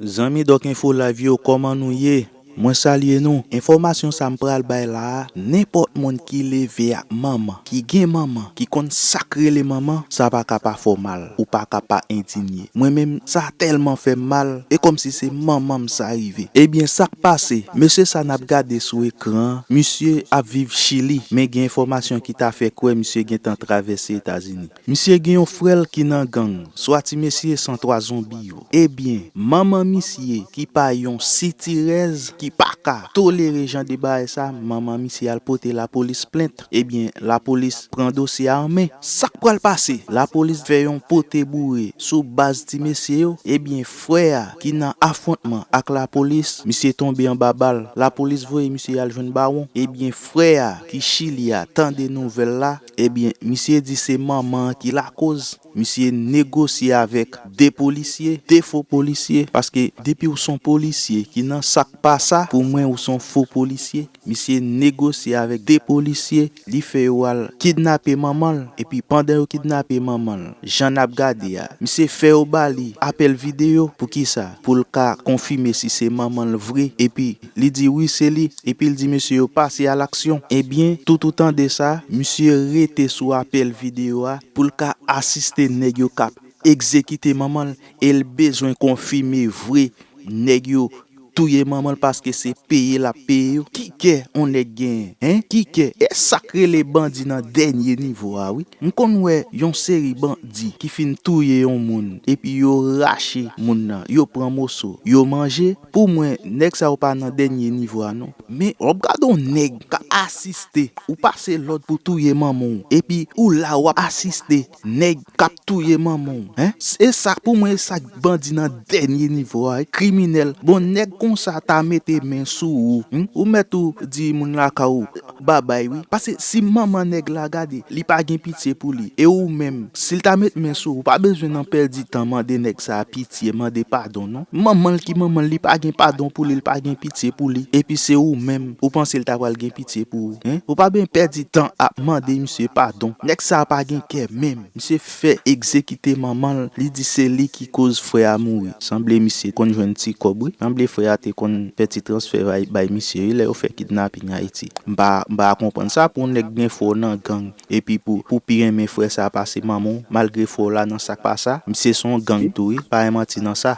Zanmi Doc Info Live yo kòman nou ye? Mwen salye nou. Enfòmasyon sa m pral bay la a, nenpòt moun ki leve ak manman, ki gen manman, ki konn sa k rele manman, sa pa ka pa fè w mal, ou pa ka pa endinye. Mwen menm, sa tèlman fè m mal, e kòmsi se manman m sa rive. Ebyen sa k pase, mesye sa n ap gade sou ekran an, misye ap viv Chili, men gen enfòmasyon ki ta fè kwè misye gentan travèse Etazini. Misye gen yon frèl ki nan gang swa ti mesye san 3 zonbi yo ebyen manman misye ki pa yon sitirèz ki paka tolere jan de bagay sa manman misye al pote lapolis plent ebyen lapolis pran dosye a an men sak pral pase lapolis fè yon pote boure sou baz ti mesye yo ebyen frè a ki nan afwontman ak lapolis misye tonbe anba bal lapolis voye misye al jwenn bawon ebyen frè a ki chili a tande nouvèl la Ebyen misye di se manman an ki lakoz misye negosye avèk 2 polisye, 2 fo polisye, paske depi ou son polisye ki nan sak pa sa pou mwen ou son fo polisye, misye negosye avèk 2 polisye li fè yo al kidnape manman l epi pandan yo kidnape manman l jan nap gade a misye fè yo ba li apèl videyo poukisa pou l ka konfime si se manman l vre epi Li di wi se li epi l di mesye yo pase a laksyon. Ebyen, tout ou tande sa, misye rete sou apèl videyo a pou l ka asiste nèg yo k ap egzekite manman l e l bezwen konfime vre nèg yo touye manman l paske se peye l ap peye yo. Ki kè on nèg genyen? Hein? Ki kè? E sa k rele bandi nan dènye nivo a wi. M konn wè yon seri bandi ki fin touye yon moun epi yo rache moun nan, yo pran moso, yo manje. Pou mwen nèg sa yo pa nan dènye nivo a non. Men wap gade yon nèg ka asiste ou pase lòd pou touye manmanw epi ou la wap asiste nèg kap touye manmanw hein e sa pou mwen e sak bandi nan dènye nivo a wi kriminèl bon nèg konsa ta mete men sou ou humm ou mèt ou di moun lakay ou Babay wi pase si manman nèg la gade li pa gen pitye pou li e ou menm sil ta met men sou ou pa bezwen nan pèdi tan mande nèg sa pitye mande padon non manmanl ki manmanl li pa gen padon pou li li pa gen pitye pou li epi se ou menm ou panse li ta pral gen pitye pou ou hein ou pa ben pèdi tan ap mande misye padon nèg sa pa gen kè menm misye fè egzekite manman l li di se li ki koz frè a mouri sanble misye konn jwenn ti kòb wi sanble frè a te konn fè ti transfè bay misye wi lè yo fè kidnaping ayiti m pa m pa konprann sa pou yon nèg gen frè w nan gang epi pou pou pi renmen frè sa pase manman w malgre frè w la nan sa k pa sa misye son gang tou wi pa yon manti nan sa.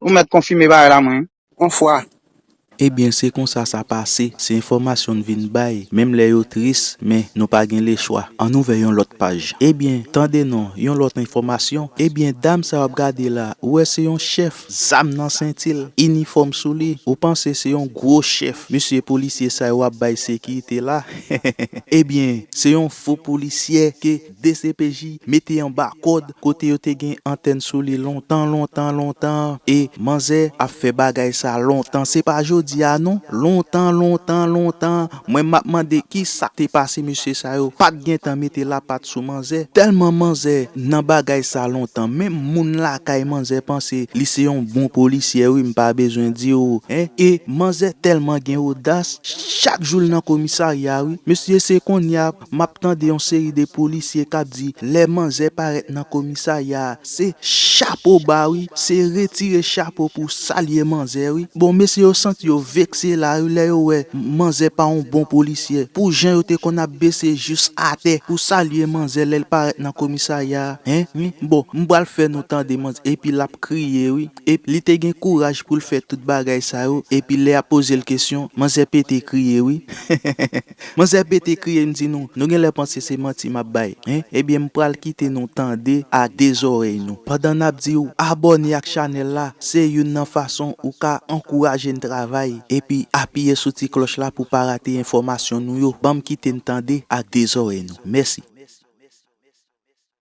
Ou mèt konfime bagay la mwen. On fwa. Ebyen se konsa sa pase, se enfòmasyon n vin bay, menm lè yo tris men nou pa gen lechwa. Ann ouvè yon lòt paj. Ebyen, tande non, yon lòt enfòmasyon, ebyen dam sa w ap gade la, ou wè se yon chèf, zam nan senti l, inifòm sou li, ou panse se yon gwo chèf, mesye polisye sa yo ap bay sekirite la, ebyen se yon fo polisyè ke dcpj mete anba kòd kote yo te gen antèn sou li lontan lontan lontan e manzè ap fè bagay sa lontan se pa jodi a non lontan lontan lontan mwen map mande ki sak te pase mesye sa yo pat gentan mete lapat sou manzè tèlman manzè nan bagay sa lontan menm moun lakay manzè panse li se yon bon polisyè wi m pa bezwen di w hein e manzè tèlman gen odas chak jou l nan komisarya wi mesye se konnya Map tande yon seri de polisye kap di lè manzè parèt nan komisarya a se chapo ba wi se retire chapo pou salye manzè wi bon mesye yo santi yo vekse la wi lè yo wè manzè pa yon bon polisyè pou jan yo te konn ap bese jous atè pou salye manzè lèl parèt nan komisarya a hein wi bon m pral fè nou tande manzè epi lap kriye wi epi li te gen kouraj poul fè tout bagay sa yo epi lè yap pozel kesyon manzè pete kriye wi. Manzè pete kriye m di nou, nou genlè panse se manti map bay hein ebyen m pral kite nou tande ak 2 zorèy nou pandan nap diw abòne ak chanèl la se youn nan fason ou ka ankouraje n travay epi apiye sou ti klòch la pou pa rate enfòmasyon nou yo banm kite n tande ak 2 zorèy nou mèsi.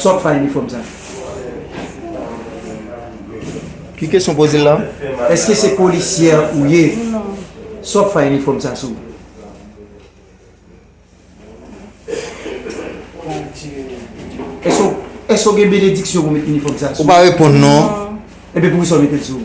Sa wap fè a inifòm sa? Ki kesyon w poze l la? Eske se polisyè ou ye? Sa wap fè a inifòm sa sou? Eske w gen benediksyon pou met inifòm sa sou? Ou pa reponn non. Ebyen poukisa w met l sou?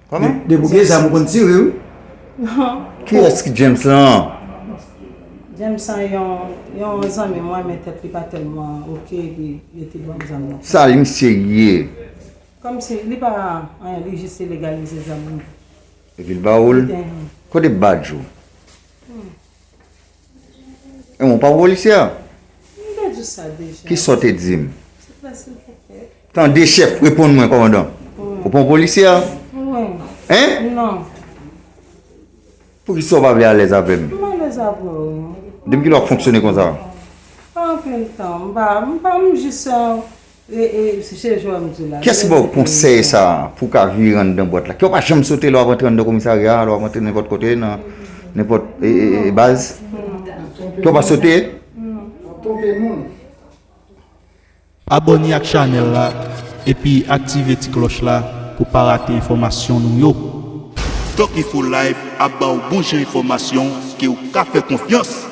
Koman? Depi w gen zam ou konn tire wi. Kiyès ki James lan? James sa yon zanmi mwen men tèt li pa tèlman ok epi yo te ban m zam nan. Sa li misye ye? Kòm si li pa anyen li jis te legalize zam li. Epi l ba ou l? Kote badj ou? Ou pa yon polisye a? Ki sa w te di m? Tande chèf, reponn mwen kòmandan. Ou pa yon polisye a? Hein? Pou ki sa w pa vle alèz avè m? Depi kilè w ap fonksyone konsa? Kiyès ki ba w konsèy sa a pou w ka vire anndan bwat la? Kè w pa janm sote lè w ap antre anndan komisarya a, lè w ap antre nenpòt kote, nan nenpòt baz? Kè w pa sote? Abòne ak chanèl la epi aktive ti klòch la pou w pa rate enfòmasyon nou yo. Doki4live ap ba w bon jan enfòmasyon ke w ka fè konfyans!